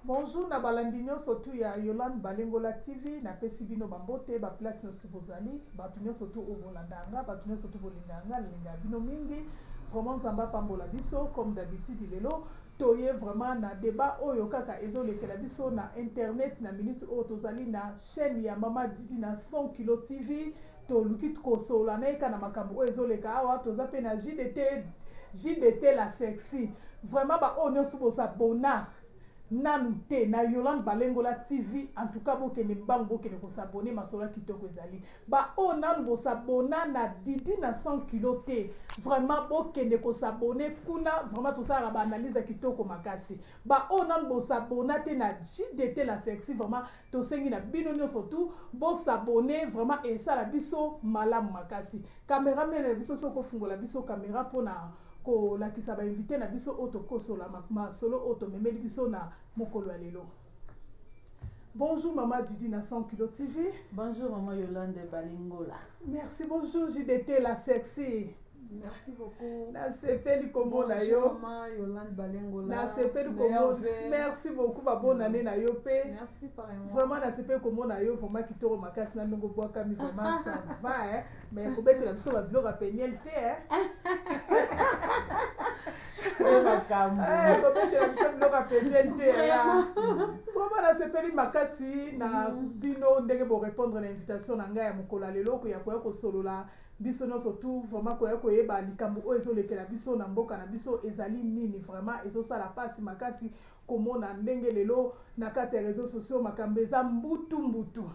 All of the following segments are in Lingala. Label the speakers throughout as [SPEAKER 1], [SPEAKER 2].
[SPEAKER 1] Bonjour na balandi nyonso tu ya Yolande Balengola TV, napesi bino bambote ba place nyonso tu bozali, bato nyonso tu oyo bolanda yanga, bato nyonso tu bolinga yanga, nalinga ya bino mingi. Vraiment Nzambe apambola biso comme d'habitude lelo toye vraiment na debat oyo kaka ezolekela biso na internet na minute oyo tozali na chaîne ya Mama Didi na 100 kilo TV. Toluki kosolola na ye kaka na makambo oyo ezoleka awa. Toza mpe na JDT, JDT la sexy. Vraiment ba oyo nionso bo s'abonna nanu te na Yolande Balengola TV en tout cas bokende mbangu bokende ko s'abonner masolo kitoko ezali. Ba oyo nanu bo s'abonna na Didi na 100 kilos te vraiment bokende ko s'abonner kuna vraiment tosalaka ba analyse ya kitoko makasi. Ba oyo nanu bo s'abonna te na JDT la sexy vraiment Tosengi na bino nionso tout bo s'abonner vraiment esala biso malamu makasi. Camera man na biso soki ofungola biso camera pona kolakisa ba invite na biso oyo tokosola masolo oyo tomemeli biso na mokolo ya lelo. Bonjour maman Didi na 100 kilo TV. Bonjour maman Yolande
[SPEAKER 2] Balingola. Merci bonjour
[SPEAKER 1] JDT la sexy. Merci beaucoup.
[SPEAKER 3] Nasepeli
[SPEAKER 1] komona yo. Maman Yolande Balengola.
[SPEAKER 3] Nasepeli
[SPEAKER 1] komona. Merci beaucoup ba bonne mm. année na yo pe. Merci pareillement. Vraiment
[SPEAKER 3] nasepeli komona
[SPEAKER 1] yo vraiment kitoro makasi na ndongo bwaka mi vraiment ça va hein. Mais ko betela biso ba biloko ya peniel te hein. makambo eh, kobetela biso biloko ya peniel te ya vraiment nasepeli makasi na mm. bino ndenge borépondre na invitation na ngai ya mokolo ya lelo okoya koya kosolola Biso nionso tout vraiment koya koyeba likambo oyo ezo lekela biso na mboka na biso ezali nini vraiment ezo sala pasi makasi komona ndenge lelo na kati ya reseaux sociaux makambo eza mbutu mbutu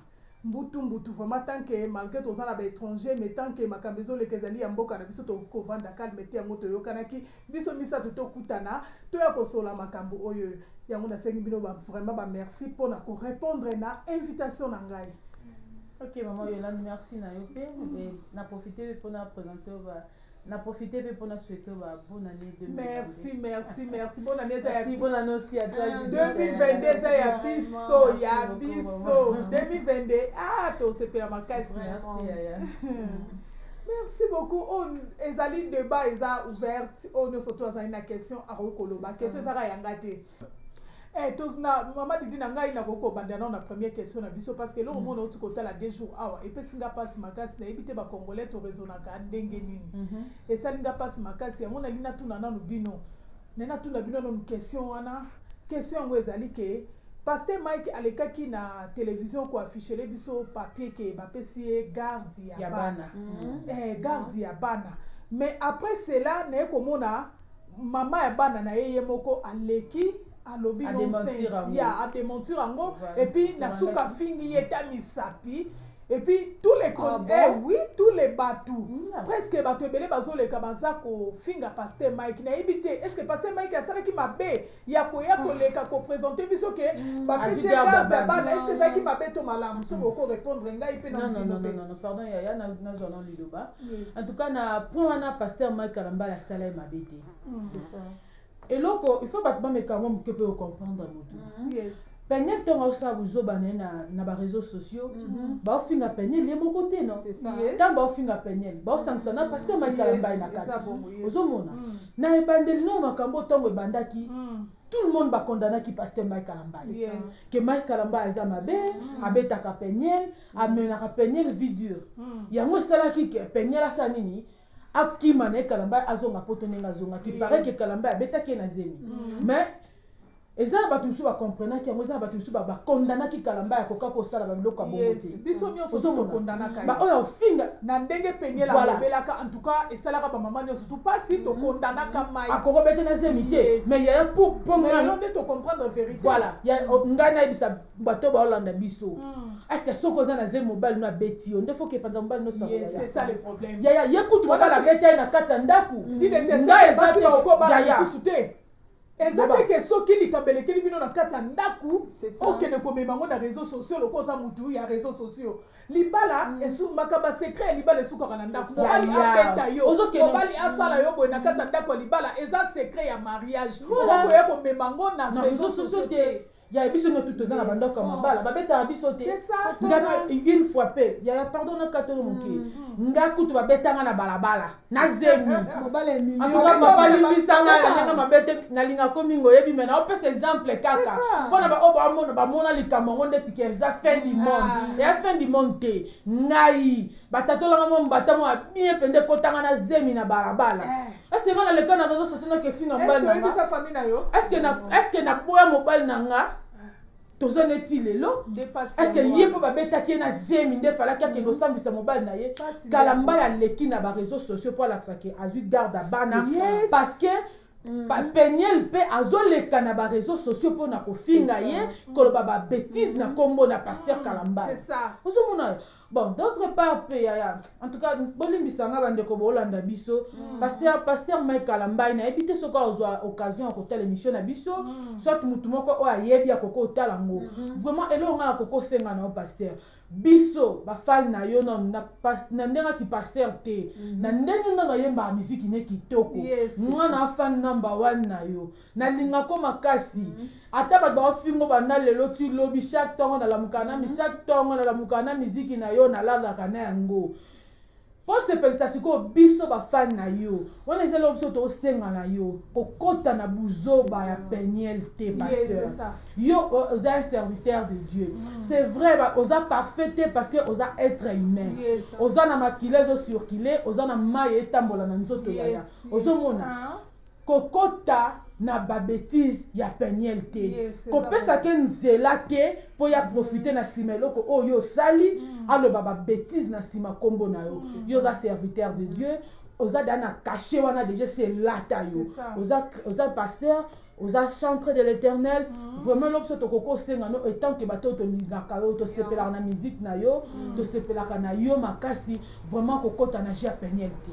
[SPEAKER 1] mbutu mbutu vraiment tant que malgre toza na ba étrangers mais tant que makambo ezo leka ezali ya mboka na biso to kovanda calme te yango toyokanaki biso misato tokutana toya kosola makambo oyo yango nasengi bino ba vraiment ba merci pona ko répondre na invitation na ngai Ok
[SPEAKER 2] maman Yolande merci na yo pe mais na profiter pe pona présenter ba na profiter pe pona souhaiter ba bonne année 2022. Merci merci merci bonne
[SPEAKER 1] année eza ya bonne année aussi à
[SPEAKER 2] toi. 2022 eza
[SPEAKER 1] ya biso ya biso 2022 ah to sepela makasi. Merci yaya. merci beaucoup oyo oh, ezali debat eza ouverte oyo oh, nyonso to azali na question akoki koloba question ezaka yanga te Eh, tous na mama didi na ngai nakoki kobanda nao na première question na biso parce que eloko mm. moko nauti kotala deux jours awa epesi nga mpasi makasi nayebi te bacongolais toresonaka ndenge nini mhm. esali nga mpasi makasi yango nali natuna nanu bino nai natuna bino nanu question wana question yango ezali ke paster mike alekaki na télévision koaffichele biso papier ke bapesi ye garde ya bana mhm. eh, garde ya bana mais après cela naye komona Maman ya bana na ye ye moko aleki alobi nonsense ya a dementir yango et puis na suka fingi ye ta misapi et puis tous les ah, bon? eh, oui tous les batou mm. presque bato ebele bazoleka baza kofinga pasteur mike nayebi te est ce que pasteur mike asalaki mabe ya koya koleka ko presenter biso ke mm. ba pese garde ya bana est-ce que ezalaki mabe to malamu soki oko répondre ngai pe na non non non non pardon yaya
[SPEAKER 2] na na zwa non liloba en tout cas na point wana pasteur Mike Kalambala asala ye mabe te mm. c'est ça eloko il faut bato bameka yango moke mpe ocomprendre motu mm.
[SPEAKER 1] Peniel ntongo
[SPEAKER 2] akosala buzoba na ye na ba réseaux sociaux mhm. baofinga Peniel ye moko te no ntango baofinga
[SPEAKER 3] Peniel
[SPEAKER 2] baosangisa na pasteur maikala mbai na kati ozomona mm. na ebandeli nao makambo ntango ebandaki mm. tout le monde bakondanaki pasteur mike kalambay ke mike kalambay aza mabe mm. abetaka Peniel amenaka Peniel vie dure yango esalaki ke Peniel asala nini akima na ye kalambay azonga poto ndenge azongaki pareil ke kalambay abetaki ye na zemi mais eza na bato mosusu ba comprenaki yango eza na bato mosusu ba condamnaki kalamba ya koka kosala babiloko ya bongo te biso nyonso
[SPEAKER 1] tokondanaka baoyo ya ofinga na
[SPEAKER 2] ndenge peniel
[SPEAKER 1] alobelaka en tout cas esalaka bamama nyonso tu mpasi mm-hmm. tokondanaka mm-hmm. mai akokobete na zemi te
[SPEAKER 2] mais yaya po pomelo nde tocomprendre
[SPEAKER 1] verité voilà oh, ngai
[SPEAKER 2] nayebisa bato baolanda biso mm. eske soki oza na zemi mobali no abeti yo nde foki epanza mobali nosaoyaya
[SPEAKER 1] ye kutu mobali
[SPEAKER 2] abeta ye na kati ya ndako ngai
[SPEAKER 1] eza te eza te ke soki likambo elekeli bino na kati ya ndako okende komema yango na réseau sociaux loko oza motu ya réseau sociaux libala mm. makambo ya secret ya libala esukaka na ndako mobali abeta yo mobali asala yo boye na kati ya ndako ya libala eza secret ya mariage okoya komema yango na réseau sociaux te ya
[SPEAKER 2] biso no tutu eza na bandako ya mabala babetaka biso te nga une fois pe yaya pardon na katolo moke mm, mm. nga kutu babetanga na balabala na zemi antuka
[SPEAKER 3] papa limbisanga
[SPEAKER 2] na ndenge mabete nalinga komi ngo oyebi me naopesa exemple kaka mpona baoyo bamona bamona likambo yango ndeti ke eza fin du monde ah. ya fin du monde te ngai batatolanga mwa mbata mwa bien mpenza ekotanga na zemi na balabala eh. eske nga na leka na reseau sociaux nakesi na mobali na nga eske naboya mobali na nga toza neti lelo eske ye mpo babetaki ye na zemi nde falaki akende osambisa mobali na ye kala mbai aleki na bareseau sociaux mpo alakisaki azwi garde ya bana parce que Mm. peniel mpe azoleka na bareseau sociaux mpo na kofinga ye koloba babetise na nkombo na paster mm. kalambala ozomona
[SPEAKER 1] bon
[SPEAKER 2] d'autre part pe yaya en tout cas bolimbisa nga bandeko bolanda biso mm. pasteur pasteur mike kalambai nayebi te soki ozwa occasion ya kotala émission na biso mm. soit motu moko oyo ayebi akoki otala yango mm -hmm. vraiment eloko nga nakoki osenga na yo pasteur biso bafani na yo nanu na, na ndenge aki pasteur te mm -hmm. na ndenge nanu ayembaka miziki ne kitoko yes. mwana afani namba wane na yo nalinga ko makasi mm. ata bato baofingo banda lelo ti lobi chaque ntongo nalamuka na mi mm. chaque ntongo nalamuka na miziki na yo nalalaka na yango mpo sepelisa sikoyo biso bafani na yo wana eza eloko biso tosenga na yo kokota na buzoba ya peniel te pasteur yo oza un serviteur de dieu mm. c'est vrai oza parfait te parce que oza être humain oza na makila ezosurkile oza na mai etambola na nzoto yaya ozomona ah. kokota na ba betises ya penielle te yes, kopesa ke nzela te mpo ya profite mm. na nsima eloko oyo yo osali mm. aloba ba betises na nsima nkombo na yo mm. yo oza serviteur de dieu oza da na cachet wana deja selata yo oza, oza pasteur oza chantre de l'éternel mm. vraiment eloko so tokoki osenga no etant ke bato oyo tolingaka yo tosepelaka na musique na yo tosepelaka na yo makasi Vraiment kokota na jeu ya peniel te.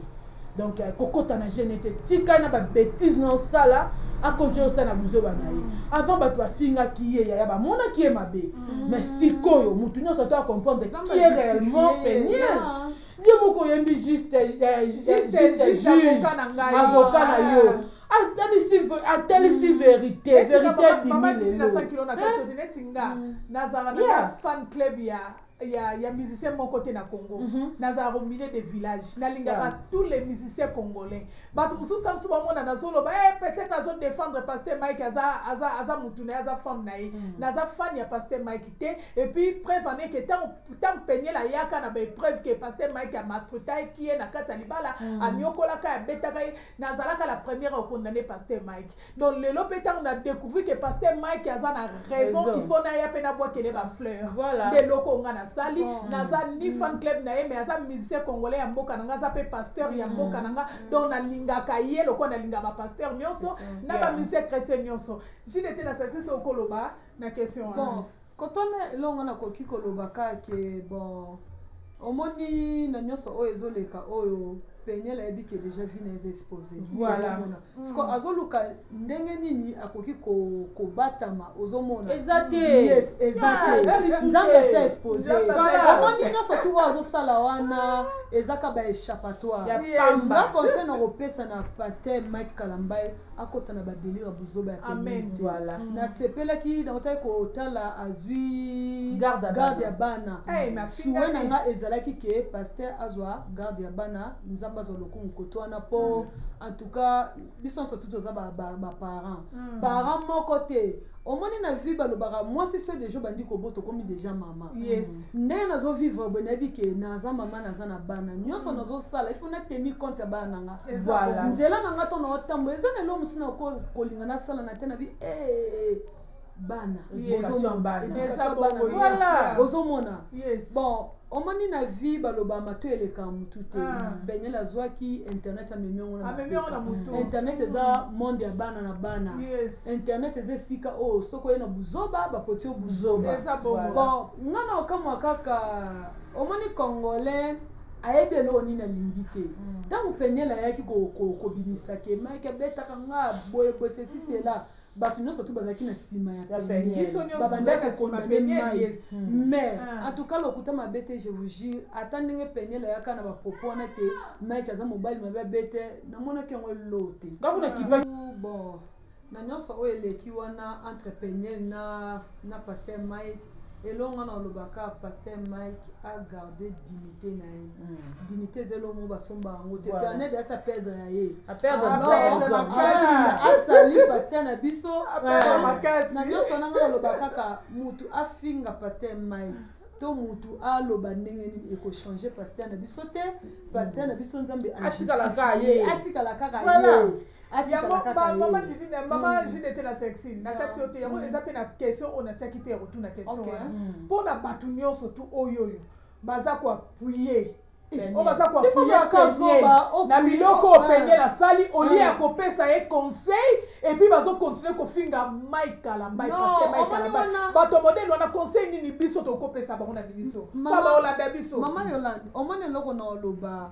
[SPEAKER 2] Donc euh, kokota na jeu nete tika na ba bêtises na osala akonje osala na buzoba na ye. Mm. Avant bato bafingaki ye yaya bamonaki ye mabe. Mm. Mais sikoyo motu nyonso to comprendre qui est réellement peniel. Ye moko oyembi juste euh, euh, juste avocat na yo. Ah. atalisi atalisi mm. verite verite ebimi
[SPEAKER 1] lelo eh? mm. nazala na fan club ya ya, ya musicien moko te na congo mm -hmm. nazalaka au milieu de village nalingaka yeah. tous les musiciens congolais bato mosusu ta mosusu bamona nazoloba e eh, peut-être azo défendre paster mike aza, aza, aza motu na ye aza fane na ye mm -hmm. naza fane ya paster mike te epuis preuve en eke ntango peniel ayaka na baepreuve ke paster mike amaltretaki ye na kati ya libala mm -hmm. aniokolaka abetaka ye nazalaka la première okondane paster mike donc lelo mpe ntango na découvrir que pasteur mike aza na raison il faut naya mpe nabwakele bafleur nde eloko nga
[SPEAKER 2] nasali
[SPEAKER 1] naza ni fan mm. club na ye mais aza musicien congolais ya mboka na nga aza mpe pasteur ya mm. mboka na nga mm. donc nalingaka ye lokola nalinga bapasteur nyonso na bamusicien chrétien nyonso jile te nasalisi so okoloba na question wana Kotana
[SPEAKER 3] elongo na koki koloba ka ke bon omoni na nyonso oyo ezoleka oyo peniel ayebi ke deja vie na eza expose voilà
[SPEAKER 2] siko mm. azoluka
[SPEAKER 3] ndenge nini akoki kobatama ko ozomona eza te yes
[SPEAKER 2] eza ah,
[SPEAKER 3] te nzambe ase expose amoni nyonso tu oyo azosala wana ezaka ba échappatoire eza conseil na kopesa na pasteur mike kalambai akota na badelire ya buzoba ya amen voilà mm.
[SPEAKER 2] nasepelaki
[SPEAKER 3] nakotaki kotala azwi garde ya
[SPEAKER 2] bana eh,
[SPEAKER 3] suwe na
[SPEAKER 1] nga ezalaki ke
[SPEAKER 3] paster azwa garde ya bana nzambe azwa lokumu koto wana mpo mm. en tout cas biso nyonso tuti oza baparent mm. parent moko te omoni na vie balobaka mwasi so deja obandi kobota okomi deja mama yes. ndenge nazo vivre boye nayebi ke naza mama naza na bana nyonso mm. nazosala ifo na teni compte ya bana na nga voilà. nzela na nga
[SPEAKER 2] to na
[SPEAKER 3] otambola eza na elo mosusu na kolinga nasala na te na bi hey, eh, eh, hey. Eh, bana ozomona bon omoni na vie baloba mato eleka motu te ah. beniel azwaki internet amemi yango na ah, internet eza monde ya bana na bana internet eza esika oyo oh, soki oye na buzoba bapoti yo buzoba bon nga na okamwa kaka omoni congolais ayebi eloko nini alingi te ntango mm. peniel ayaki kobimisa kemaki abetaka nga boye boye sesisela mm. bato nyonso tu bazalaki na nsima ya penielbabandaki kondane mai mm. mais ah. en tout cas lokuta mabe te je vous jure ata ndenge peniel ayaka na bapropos wana te mike aza mobali mabe abe te namonaki yango elo te ah. bon Na nionso oyo eleki wana entre peniel na na pasteur Mike elongo wana oloba ka pasteur Mike a garder dignité na ye mm. dignité eza elongo basomba yango te voilà. pernel asa perdre ya ye asali pasteur na biso na nionso wana ngai oloba kaka mutu afinga pasteur Mike to mutu aloba ndenge nini ekochange pasteur na biso te pasteur na biso nzambe
[SPEAKER 2] atikala kaka ye yango
[SPEAKER 1] mama didi na mama hmm. jine te na sexine na kati yo te yango hmm. eza mpe na question oyo natiaki mpe ya kotuna question wana mpo hmm. na bato nyonso tu oyo oyo baza koapuye oyo baza koapuye na biloko oyo peniel asali olie ya kopesa ye conseil epuis bazokontinue kofinga mike kalambai paske mike kalambai bato modele wana conseil nini biso tokopesa bango na bibiso mpo baolanda biso mama yolande omoni
[SPEAKER 3] eloko na oloba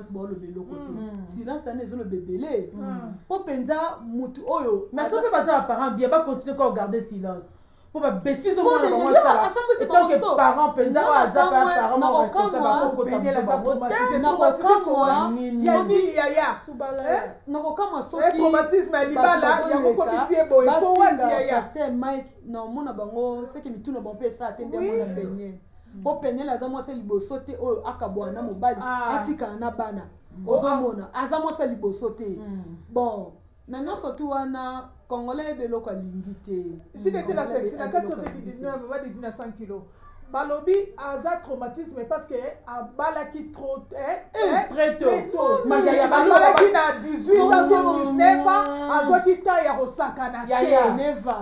[SPEAKER 3] silence baoloba eloko te mm. silence wana ezoloba ebele mm. mpo mpenza motu oyo mais soki mpe baza baparent
[SPEAKER 2] bien bacontinue kaka garde silence mpo babetise omonabangosalaaetankeparent mpenza oyo aza parentnakokamwa
[SPEAKER 3] sokitraumatisme ya libala
[SPEAKER 1] yango komisi ye boye mpo wati yaya mike
[SPEAKER 3] naomona bango seke mituna bango mpe esala te nde mona benye mpo mm. penele aza mwasi ya liboso te oyo akabwana na mobali ah. atikala na bana mm. ozomona oh, ah. aza mwasi ya liboso te mm. bon na nyonso tu wana kongola yebe eloko alingi te jibetela sexi
[SPEAKER 1] na kati otekidiababadidina 100 kilo balobi aza traumatisme parce que abalaki
[SPEAKER 2] abalaki
[SPEAKER 1] na 18 azo 19 ans azwaki temps ya kosakana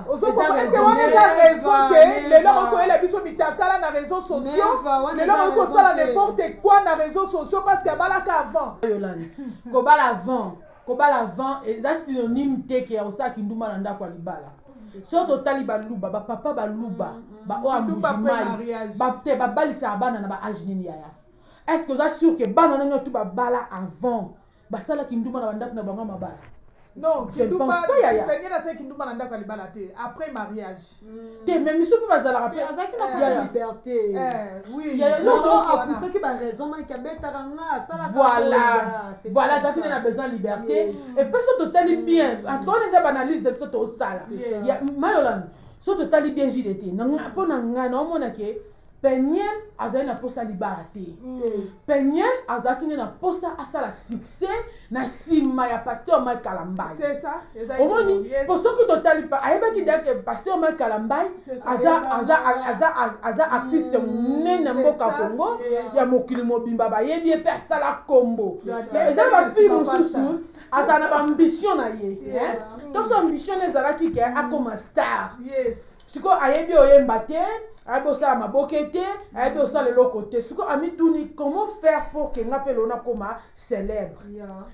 [SPEAKER 1] teozokoese
[SPEAKER 3] wana
[SPEAKER 1] eza raison te lelo okoyela biso mitakala na réseau sociaux lelo okoki kosala n'importe quoi na réseau sociaux parce que abalaka avant kobala avant
[SPEAKER 2] kobala avant eza synonyme te ke ya kosala kindumba na ndako ya libala so totali baluba bapapa baluba mm, mm. baoyo ya mujimai te babalisaka bana na baage nini yaya est ce que oza sur ke bana ndenge tu babala avant basala kindumba na bandako na bango ya mabala non
[SPEAKER 1] kindumba yaya kindumba na ndako ya libala te après mariage te me misu
[SPEAKER 2] mpe bazalaka mpe azalaki na
[SPEAKER 3] ya
[SPEAKER 1] liberté apusaki
[SPEAKER 3] baraison mike abetaka nga asalakavoila azalaki nde
[SPEAKER 2] na besoin ya liberté epe so totali bien antuka wana eza baanalyse na biso tosala mayolami so totali bien jdt mpo na ngai naomona ke peniel azali na mposa libala te mm. peniel azalaki nde na mposa asala succès na nsima ya pasteur mike kalambai
[SPEAKER 1] omoni mpo
[SPEAKER 2] soki totali ayebaki deke pasteur mike kalambai aza artiste mm, monene na mboka congo ya mokili mobimba bayebi ye mpe asala nkombo eza bafille mosusu azala na baambition na ye toso ambition na ezalaki ke akoma star yes. sikoyo ayebi oyemba te ayebi osala maboke te ayebi osala eloko te sikoyo amituni comment faire pour ke nga mpe lelo nakoma célèbre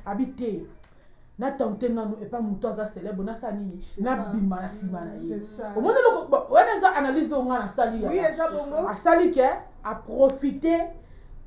[SPEAKER 2] abi te natante nanu epa moto aza célèbre nasala nini nabima na nsima na ye omoni eloko wana eza analyse oyo nga nasali asali ke aprofite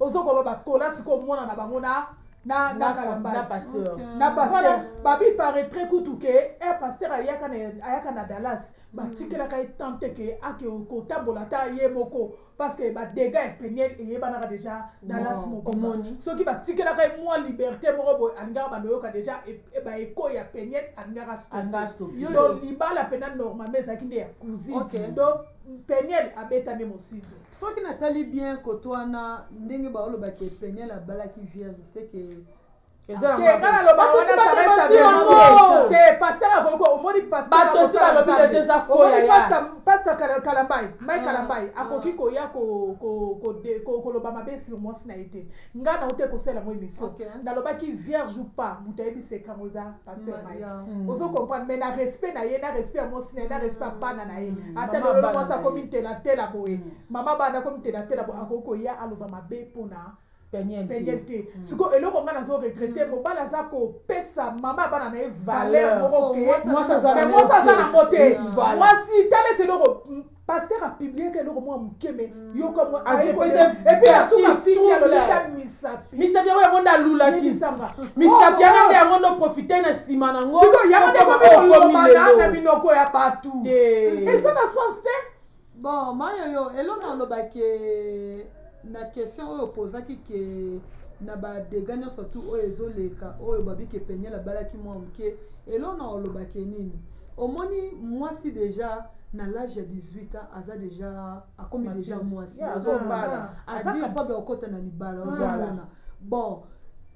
[SPEAKER 1] ozo koba ba kola siko mwana na bango na na na kalamba na pasteur na
[SPEAKER 2] pasteur
[SPEAKER 1] babi paraîtrait kutu ke eh pasteur ayaka na ayaka na Dallas batikelaka ye temps te ke ake kotambola ata ye moko parce que ba dégâts ya peniel eyebanaka déjà Dallas moko omoni soki batikelaka ye mwa liberté moko boye alingaka bando yoka déjà ba eko ya peniel alingaka stopi donc libala pena normalement ezalaki nde ya cousine donc peniel abeta nde mosinzo Soki na tali
[SPEAKER 3] bien cote wana ndenge ba oloba ke peniel abalaki vierge
[SPEAKER 1] c'est
[SPEAKER 2] que pasta
[SPEAKER 1] kalambai mai kalambai akoki koya koloba mabe sur mwasi na ye te ngai nauti ekosala yango émission nalobaki vierge ou pas moto ayebi sekango eza pasteur mm, mike mm. ozo comprendre mais na respect na ye na respect ya mwasi na ye na mm. respect ya bana na ye ata lelo mwasi akomi ntelatela boye mama bana akomi ntelatela boye akoki koya aloba mabe mpona peniel te sikoyo eloko ngai nazo regrete mobali aza kopesa mama bana na ye valeur moko mwasi aza na yango te mwasi tala ete eloko pasteur a publie ka eloko mwa moke me yoka mwa epuis asuka fiki ya lolita misapi misapi yango
[SPEAKER 2] yango nde alulaki misapi yango nde yango ndo profite na nsima na ngo yango nde komikolobana
[SPEAKER 1] na minoko ya bato eza na sens te bon mayoyo
[SPEAKER 3] eloko alobaki na question oyo opozaki ke na ba dega nyonso tu oyo ezoleka oyo babi ke peniel abalaki mwa moke eloko na olobake nini omoni mwasi deja na l'age ya 18 ans aza deja akomi deja mwasi Yeah, Ozomona? azobala. aza Adulte. capable ya kokota na libala Voilà. ozomona bon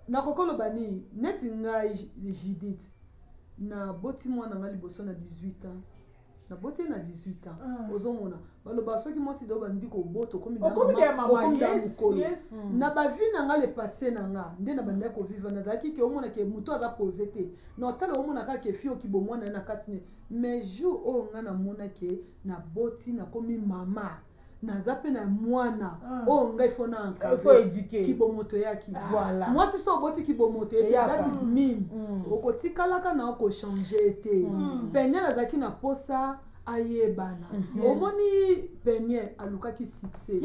[SPEAKER 3] nakoki koloba nini neti ngai judith naboti mwana ngai liboso na 18 ans naboti ye na 18 ans ah. ozomona baloba soki mwasi dao bandi kobota okomi mokolo hmm. na bavi na nga le passe na nga nde na bandaki koviva nazalaki ke omona ke moto aza pose te na otala omona kaka ke fi oki bomwana ye na kati ne mais jour oyo nga namona ke naboti nakomi mama naza mpe na mwana ah. oyo oh, ngai fona encadre
[SPEAKER 2] kibomo toyaki
[SPEAKER 3] ah. mwasi so
[SPEAKER 2] oboti kibomo
[SPEAKER 3] toyaki that is mean mm. okotikalaka na okochange te mm. peniel azalaki na posa ayebana mm-hmm. omoni peniel alukaki succès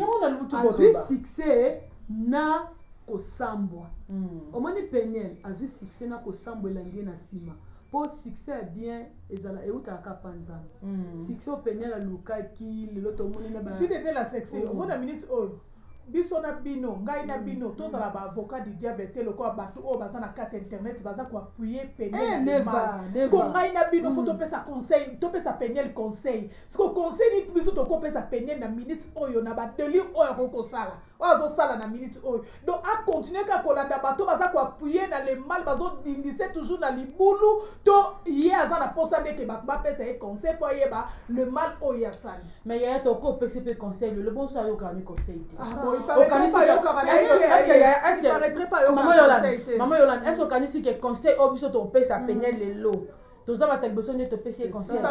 [SPEAKER 3] azwi succès na kosambwa mm. omoni peniel azwi succès na kosambwa elandi ye na nsima po succès ya bien ezala ewutaka kaka pa nzambe mm. succès oyo peniel alukaki lelo tomoni na jidevela sexe oh. omona
[SPEAKER 1] minute oyo oh. biso na bino ngai na mm. bino mm. tozala ba avocat du diable te lokola bato oyo baza na kati ya internet baza koapuye penielsiko eh, ngai na bino fo mm. topesa conseil topesa peniel conseil siko conseil nini biso tokopesa peniel na minute oyo na badeli oyo akoki kosala oyo azosala na minute oyo donc acontinue kaka kolanda bato baza koappuye na le mal bazodindise toujours na libulu to ye aza na mposa ndeke bato bapesa ye conseil mpo ayeba le mal oyo ye asali me yaya toko opesi
[SPEAKER 2] mpe conseil lelo bonso ayokaka ni conseil te mama yolande est ce okanisi ke conseil oyo biso tokopesa pene lelo toza bato ya liboso nde topesi ye conseil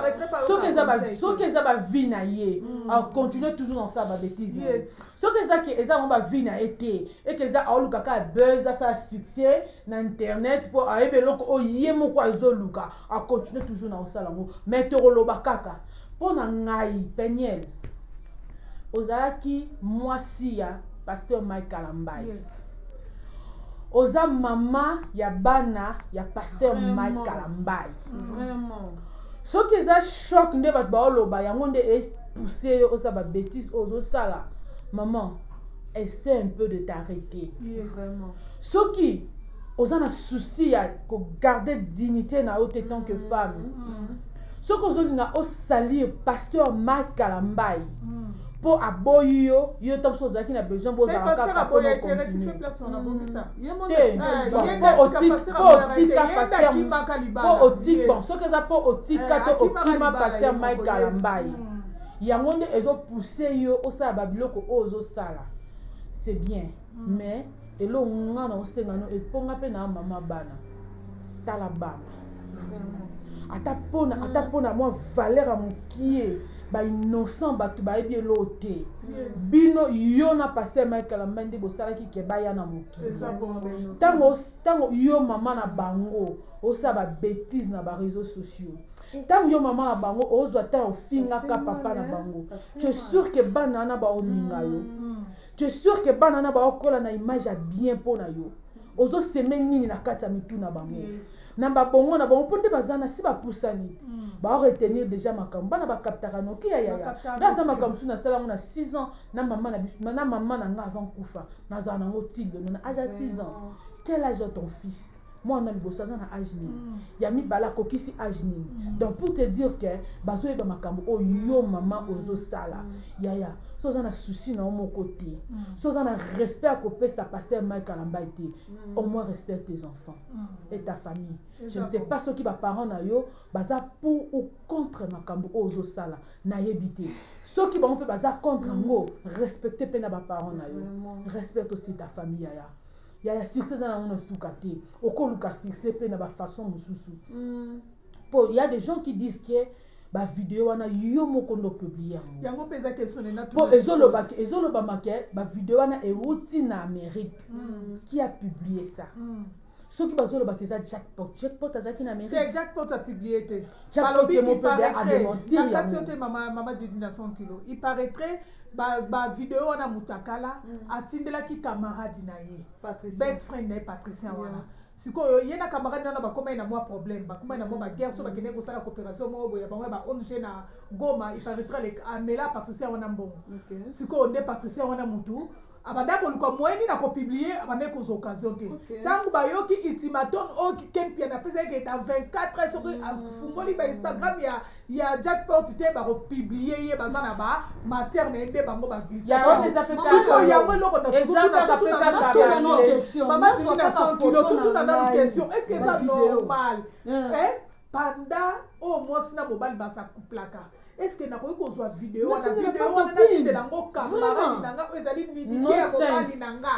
[SPEAKER 2] soki eza soki eza bavie na ye mm. acontinue toujours na kosala babétise na ye soki eza ke eza yango bavie na ye te eke eza aoluka kaka buzz asala succès na internet mpo ayebi eloko oyo ye moko azoluka acontinue toujours na kosala yango mais tokoloba kaka mpo na ngai peniel ozalaki mwasi ya pasteur mike kalambayi yes. oza mama ya bana ya pasteur mike kalambayi soki eza choc nde bato baoloba yango nde epousse yo oza babétise oyo ozosala maman essaie un peu de t'arrêter yes. soki oza na souci ya kogarde dignité na yo te tant que mm, femme mm -hmm. soki ozolinga osalir pasteur mak kalambai mpo hmm. aboyi yo yo ntango mosusu ozalaki na besoin bozala kaka mpo otik bon soki eza mpo otika eh, to okima pasteur mike kalambai hmm. yango nde ezopousse yo osala babiloko oyo ozosala c'est bien mais eloko nga na osenga no eponga pe na mama bana tala bana ata pona mm. ata pona mwa valeur ya mokie bainnocent bato bayebi eloo te bino yo na paster michael ambai nde bosalaki ke baya na mokili ntango yo mama na bango osala babétise na bareseau sociaux ntango eh. yo mama na bango ozwa ntango ofingaka papa na bango tu es sûr ke bana wana baolinga yo mm. tu es sûr que bana na baokola na image ya bien mpo na yo ozo seme nini na kati ya mitu na bango na babongo na bango mpo nde baza na si bapusani te mm. baoretenir déjà makambo bana bakaptaka noki ya yaya nga aza makambo mosusu nasala yango na 6 ans na mama na biso na mama na nga avant kufa nazala nango tilelo na age ya 6 ans quel age ya ton fils mwana liboso aza na age nini mm. ya mibale akokisi age nini mm. donc pour te dire que bazoyeba makambo oyo yo mama mm. ozosala yaya so oza na souci na yo moko te so oza na respect ya kopesa paster mike alambai te au moins respect tes enfants et ta famille je ne sais pas soki baparent na yo baza pour ou contre makambo oyo ozosala nayebi te soki bango mpe baza contre yango respecte mpe na baparent na yo respecte aussi ta famille yaya yaya succès eza nango na suka te okoluka succès mpe na bafaçon mosusu mm. po ya des gens qui disent que bavideo wana yo moko nde opiblie yango
[SPEAKER 1] po
[SPEAKER 2] ezolobama ke bavideo wana euti na amérique mm. qui a publie ça mm. soki bazolobaka eza jackpot jackpot azalaki na amérique jackpot apiblie te
[SPEAKER 1] balobi il
[SPEAKER 2] paraîtrait nakati yo te mama mama
[SPEAKER 1] didi na 100 kilo il paraîtrait bavideo wana mutakala mm. atindelaki camarade na ye best friend na ye patricien wana yeah. sikoyo ye na camarade wana bakomai na mwa problème bakomai na mwa baguerre so bakendeki kosala coopération moko boye bango ya ba ong na goma iparitrale amela patricien wana mbongo sikoyo nde patricien wana mutu abanda koluka moyen nini akopublie abandaki kozwa occasion te ntango bayoki ultimaton oyo oh, kempian apesaki keta 24 heures soki afungoli ba instagram ya ya jackpot te bakopublie ye baza na ba matière na ye nde bango baglisiko
[SPEAKER 2] yango eloko
[SPEAKER 1] naamama tindi na 100 kilo totuna nanu question est ce que eza normal panda oyo oh, mwasi na mobali baza kuplaka eske nakoki kozwa video wana video wana natindela yango kamarani na nga oyo ezali nidike ya mobali na nga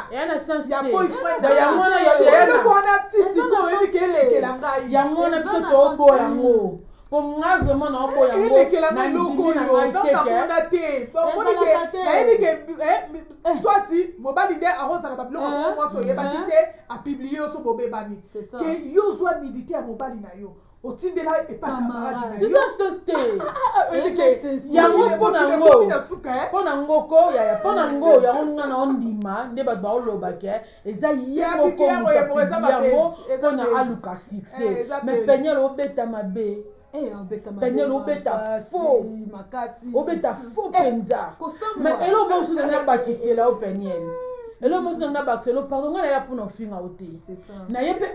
[SPEAKER 1] ya
[SPEAKER 2] boyfriendyango
[SPEAKER 1] wana
[SPEAKER 2] eloko wana ti
[SPEAKER 1] sikoyo oyebi ke elekela ngai yango wana biso tooboya
[SPEAKER 2] yango po nga vraiment naoboya yango na
[SPEAKER 1] ngai teke nayebi ke eh, Eh. toi ti mobali nde akozala babiloko yango eh. mwasi oyebaki eh. te apiblie yo so bobebani ke yo ozwa nidite ya mobali na yo otindela epayango
[SPEAKER 2] mpona ngo mpona ngo ko yaya mpona ngo yango nga na ondima nde bato baoloba ke eza ye mokomoyango mpona aluka succès mais peniel obeta mabe Eh, daniel obeta faux obeta faux mpenza eh, ma eloko mosu na ngai abakisela yo peniel eloko mosu na ngai abakisela yo pardon ngai naya mpona ofinga yo te naye mpe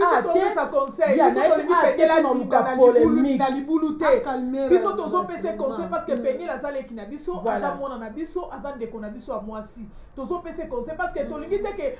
[SPEAKER 1] atenaoluka
[SPEAKER 2] polemikebulu te
[SPEAKER 1] biso tozopesa conseil parce que mm. peniel aza leki na biso aza mwana na biso aza ndeko na biso ya mwasi tozopesa conseil parce que tolingi te ke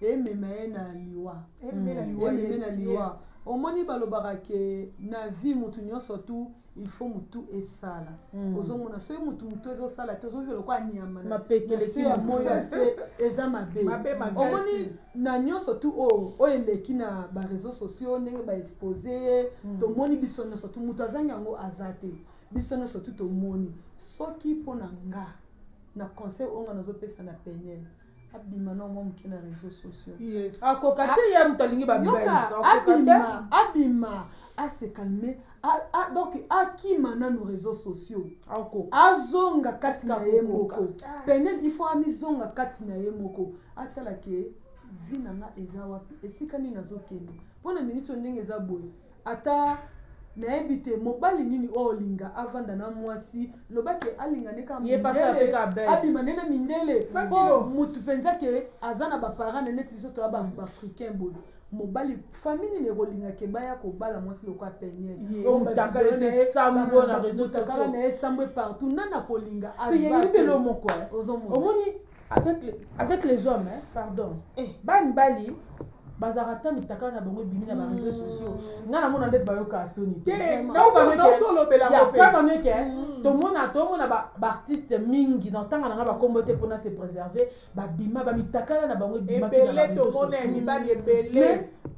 [SPEAKER 3] emema ye na liwa ememe na liwa ememe na yes, liwa yes. omoni balobaka ke na vie mutu nyonso tu il faut mutu esala Mm. ozomona soki mutu mutu ezosala te ozozela lokola nyama na- Mapeke na eleki se ya mutu. moyo ya
[SPEAKER 2] se
[SPEAKER 3] eza mabe Mabe makasi. omoni na nyonso tu oyo oyo eleki na bareseau sociaux ndenge baexpose ye Mm. tomoni biso nyonso tu moto azangi yango aza te biso nyonso tu tomoni soki mpo na nga na conseil oyo nga nazopesa na peniel abima na mwa moke na réseau sociaux akoka te ye
[SPEAKER 2] moto alingi babima
[SPEAKER 3] abima ase calme donc akima nanu réseau sociaux azonga kati na ye moko penel il faut amizonga kati na ye moko atala ke vi na nga eza wapi esika nini nazokende mpo na miniti oyo ndenge eza boye Ata nayebi te mobali nini oyo olinga avanda na mwasi loba ke alinga nde kaka Ye pasi mindele, apeka buzz.
[SPEAKER 2] abima nde na
[SPEAKER 3] mindele Cent po kilos. mutu mpenza ke aza na baparent na neti biso toya ba- baafricain boye mobali famille nini ekolinga ke baya kobala mwasi lokola peniel Yes. Oyo mutaka ye
[SPEAKER 2] se sambo na reseaux mutakala sociaux. na ye sambwe partout
[SPEAKER 3] nani akolinga Pe ya azate. yebelo moko
[SPEAKER 2] eh. Ozomona? omoni avec, le, avec les hommes hein, pardon eh. ba mibali bazalaka ata mitakala na bango ebimi na bareseau sociaux ngai namona ndeti bayokaka soni teolobelaaeke tomona tomona baartiste mingi na ntanga na ngai bakombo te mpona se préserver babima
[SPEAKER 1] bamitakala
[SPEAKER 2] na
[SPEAKER 1] bango
[SPEAKER 2] ebimaki na bareseau sociaux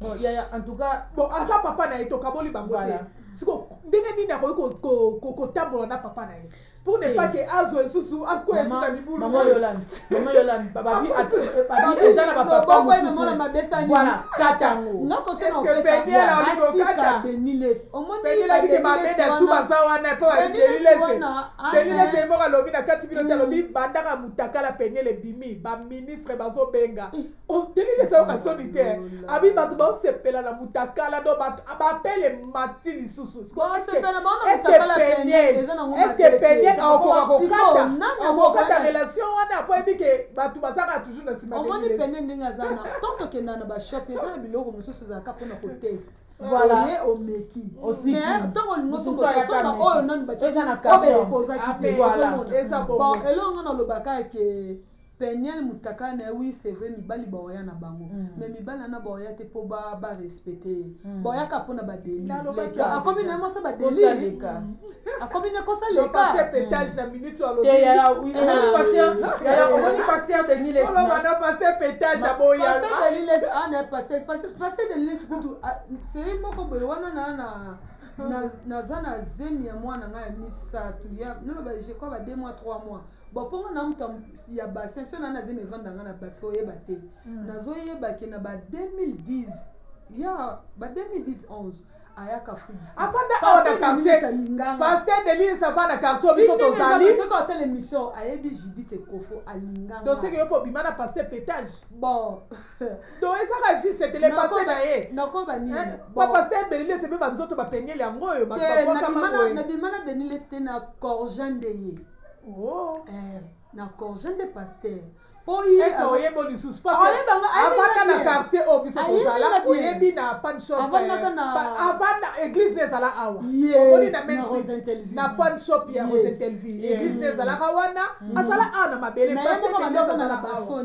[SPEAKER 1] Bon, yaya
[SPEAKER 2] en tout cas bon aza papa na ye
[SPEAKER 1] tokaboli bango te siko ndenge nini akoki kotambola na papa na ye pour ne pas que azwa lisusu akwea lisusu na libulu mama yolande
[SPEAKER 2] mama yolande babi eza na bapapa mosusu voilà kata yango nga kosana
[SPEAKER 3] opesabatika
[SPEAKER 1] deniles omonibelabike babeda su baza wana mpo badelilese delilese ye moko alobi na kati bino te alobi bandaka motakala peniel ebimi baministre bazobenga oteleli esayoka soni te abi bato baosepela na mutakala do bato bapele mati lisusu eske penien akoka kokata akokata relation wana po yebi ke bato bazaka toujours na nsima omoni pene ndenge aza
[SPEAKER 3] na tant tokenda na bashop eza na biloko mosusu ezalaka mpona koteste voilà ye
[SPEAKER 2] omeki
[SPEAKER 3] mais ntango
[SPEAKER 2] olingi osomba
[SPEAKER 3] oyo nani baciaoyo baexposaki te elongo nalobaka ke Penielle mutakala na ye oui c'est vrai mibali baoya na bango mm. mais mibali wana baoya te mpo ba ba respecte ye mm. baoyaka mpo na ba deli akomi na ye mwasa ba deli akomi na kosa leka petage na
[SPEAKER 1] minute ya lobi ya oui ya
[SPEAKER 2] omoni pasteur de Niles na wana pasteur
[SPEAKER 1] petage aboya pasteur de Niles ah na
[SPEAKER 3] pasteur pasteur de Niles kutu c'est moko boye wana na na naza na zemi ya mwana ngai ya misato ya naloba je crois ba deux mois trois mois boponga na mutu ya bassin so nani azemi evanda nga na bassin oyeba te mm. nazoyeba ke na ba 2010 ya ba 2011 ayaka afanda awa na
[SPEAKER 1] quartierpasteur delise afanda quartier biso tozalisoki otala émission
[SPEAKER 3] ayebi judith ekofo alinganga toseki yo kobima na
[SPEAKER 1] pasteur petage bon
[SPEAKER 3] to
[SPEAKER 1] ezaka juste tele pasteur na ye nakoba nini eh, pa
[SPEAKER 3] pasteur
[SPEAKER 1] belilese mpe banzoto bapengeli yango oyo bato babwakama boye nabima na denilese
[SPEAKER 3] te na corjan de ye Oh.
[SPEAKER 1] Eh, na
[SPEAKER 3] congé nde pasteur po
[SPEAKER 1] oyeba lisusu avanda na quartier oyo biso tozala oyebi na pan shopavandaka eh, église nde ezala awa omoni na na pan shop ya rosentelvie église nde ezalaka wana mm. azala awa na mabele azala
[SPEAKER 3] awa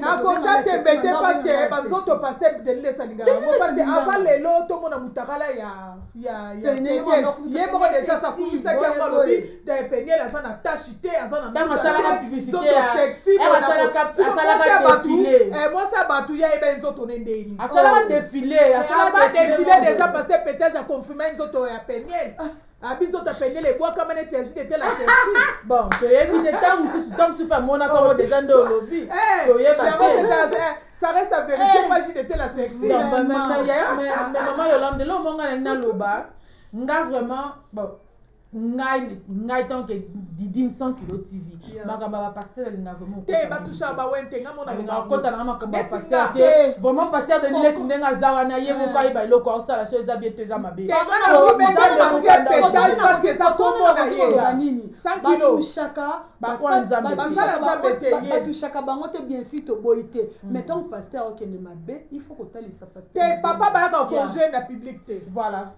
[SPEAKER 3] nakosa tembe te
[SPEAKER 1] paske banzoto paste delile esalingaka yango paske ava lelo tomona mutakala ya ye moko deja sakumisaki yango alobi peniel aza na tashi te
[SPEAKER 2] aza na mwasi ya bato ya
[SPEAKER 1] ebe nzoto ne ndeni
[SPEAKER 2] asalaka defile deja paske
[SPEAKER 1] petage aconfirme nzoto ya peniel abi nzoto apendele ebwakama neti ya jide te la selfie bon toyebi
[SPEAKER 2] te ntango mosusu ntango mosusu mpe amonaka yango deja nde olobi Eh, toyeba Charles, te c'est ça, eh, ça reste la vérité,
[SPEAKER 1] Eh. moi j'y étais la sexy. Donc, hein. ma- ma- ma- ya- ma-
[SPEAKER 2] ma- mama yolande lo monga na naloba nga vraiment bon ngai ngai tant que didine 100 kilo tv makambo ya bapaster alinga vraiment te batushaka bawente
[SPEAKER 1] nga mona akota nanga makambo ya
[SPEAKER 2] paster te vraiment paster de nilesi ndenge aza wana ye moko eh. ayeba eloko aosala so eza bien to eza mabe
[SPEAKER 1] batushaka bango te bien si
[SPEAKER 3] toboyi te mm. mais ntango paster akende mabe il faut kotalisa paster te papa bayaka
[SPEAKER 1] congé na public te voilà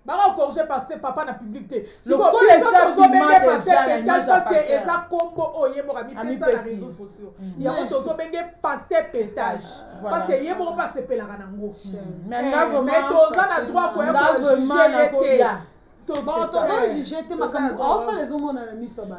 [SPEAKER 2] bako corrige
[SPEAKER 1] parce que papa na public te lokola eza
[SPEAKER 2] bima deja na
[SPEAKER 1] image ya pasteur eza kombo oyo ye moko amipesa na réseaux sociaux mm. yango mm. tozobenge pasteur petage ah, parce que ye moko mpe asepelaka nango mm. eh, mais toza na droit koya kojuge ye te
[SPEAKER 3] tozojuge te makambo aosala ezomonana miso ya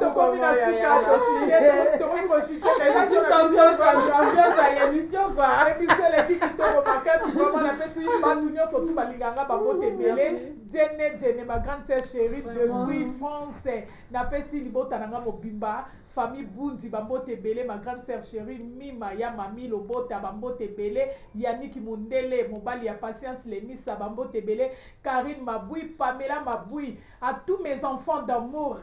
[SPEAKER 1] tokomi
[SPEAKER 2] na suka
[SPEAKER 1] tokomi koshiteemission
[SPEAKER 2] eleki kitoko
[SPEAKER 1] makasi vraimen napesi bato nyonso tu balinganga babote ebele jene jene ma grande sœur chérie depuis france napesi libota na nga mobimba Famille Bunzi ba mbote ebele ma grande sœur cherie Mima ya Mami Lobota ba mbote ebele Yannick Mundele mobali ya Patience Lemisa ba mbote ebele Carine Mabui Pamela Mabui à tous mes enfants d'amours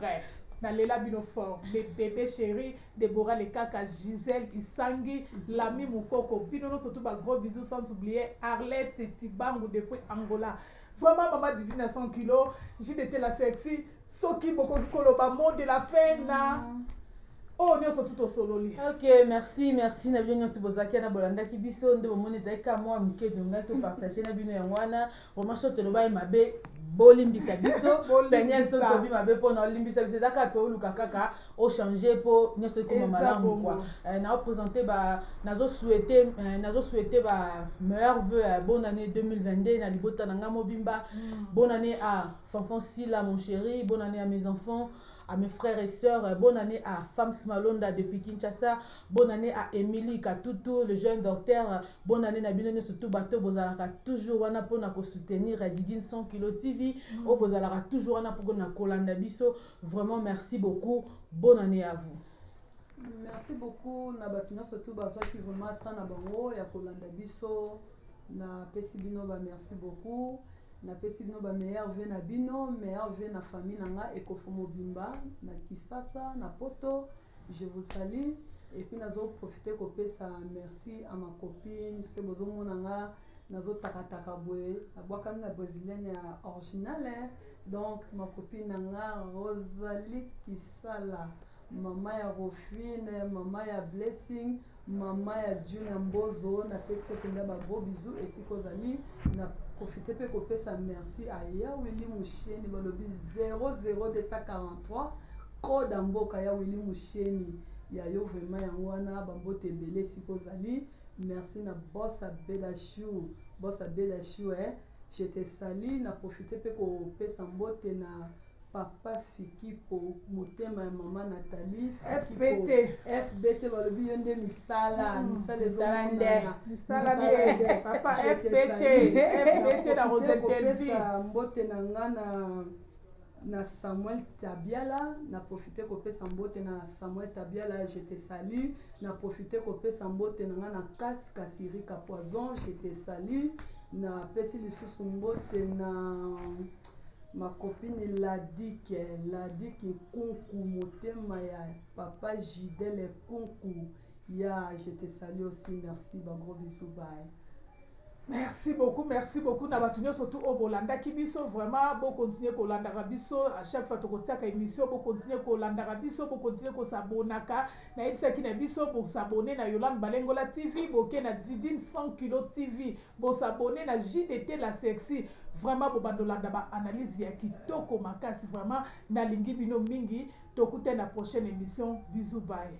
[SPEAKER 1] na lela bino fort mes bebe cherie Deborah Lekaka Gisèle Isangi Lami Mukoko bino nionso tout ba gros bisous sans oublier Arlette Tibangu depuis Angola vraiment maman Didine à 100 kilos JDT la sexy soki bokoki koloba mot de la fin na oyo nyonso tu tosololi ok merci
[SPEAKER 2] merci na bino nyonso bozalaki na bolandaki biso nde bomoni ezalaki ka mwa moke tolingaki topartage na bino yango wana vraimen so tolobaki mabe bolimbisa biso penia so tobi mabe mpona olimbisa biso eza kaka tooluka kaka ochange mpo nyonso ekoma malamu kua eh, naopresente ba nazosouete eh, nazosouete ba meilleur veu ya bonne année 2022 na libota na ngai mobimba mm. bonne année a Fanfan Sila mon chéri, bonne année à mes enfants, à mes frères et sœurs, bonne année à Fams Malonda depuis Kinshasa, bonne année à Emily Katutu, le jeune docteur, bonne année na bino nyoso tout bato bozalaka toujours wana pona ko soutenir Didine 100 kilo TV, mm. o bozalaka toujours wana pona kolanda biso, vraiment merci beaucoup, bonne année à vous. Merci beaucoup
[SPEAKER 3] na bato nyoso tout bazwaki vraiment temps na bango ya kolanda biso, na pesi bino ba merci beaucoup. Na pesi bino ba meilleurs vœux na bino, meilleurs vœux na famille na nga Ekofo mobimba, na Kisasa, na Poto, je vous salue et puis nazo profiter ko pesa merci à ma copine, se bozo mona nga nazo takataka boye, na bwakami na brésilienne ya original hein. Donc ma copine na nga Rosalie Kisala, mama ya Rofine, mama ya Blessing, Maman ya Junior Mbozo, na pesi yo mpenza ba gros bisous esika ozali na profite mpe kopesa merci a ya Willy Musheni balobi 00243 koda mboka ya Willy Musheni ya yo vraiment yango wana bambote ebele esika ozali merci na boss abela chou boss abela chou eh je te sali na profite mpe kopesa mbote na papa fikipo motema ya mama natali fbt fbt balobi yo nde misala hmm. misala
[SPEAKER 1] ezonanaakosa mbote na nga
[SPEAKER 3] na na samuel tabiala na profite kopesa mbote na samuel tabiala je te salut na profite kopesa mbote na nga na kasi kasirika poison je te salut napesi lisusu mbote na Ma copine Ladique, Ladique Nkunku motema ya papa Gidele Nkunku ya je te salue aussi merci ba gros bisous bye. Merci
[SPEAKER 1] beaucoup, merci beaucoup na bato nyonso tu oyo oh, bolandaki biso vraiment bokontinue kolandaka biso à chaque fois tokotiaka émission bokontinue kolandaka biso bokontinue kosabonaka nayebisaki na biso bosabone na Yolande Balengola TV boke na Didine 100 kilo TV Bo s'abonner na jdt la sexy vraiment bobanda olanda ba analyse ya kitoko makasi vraiment nalingi bino mingi tokutani na prochaine emission bisous bye.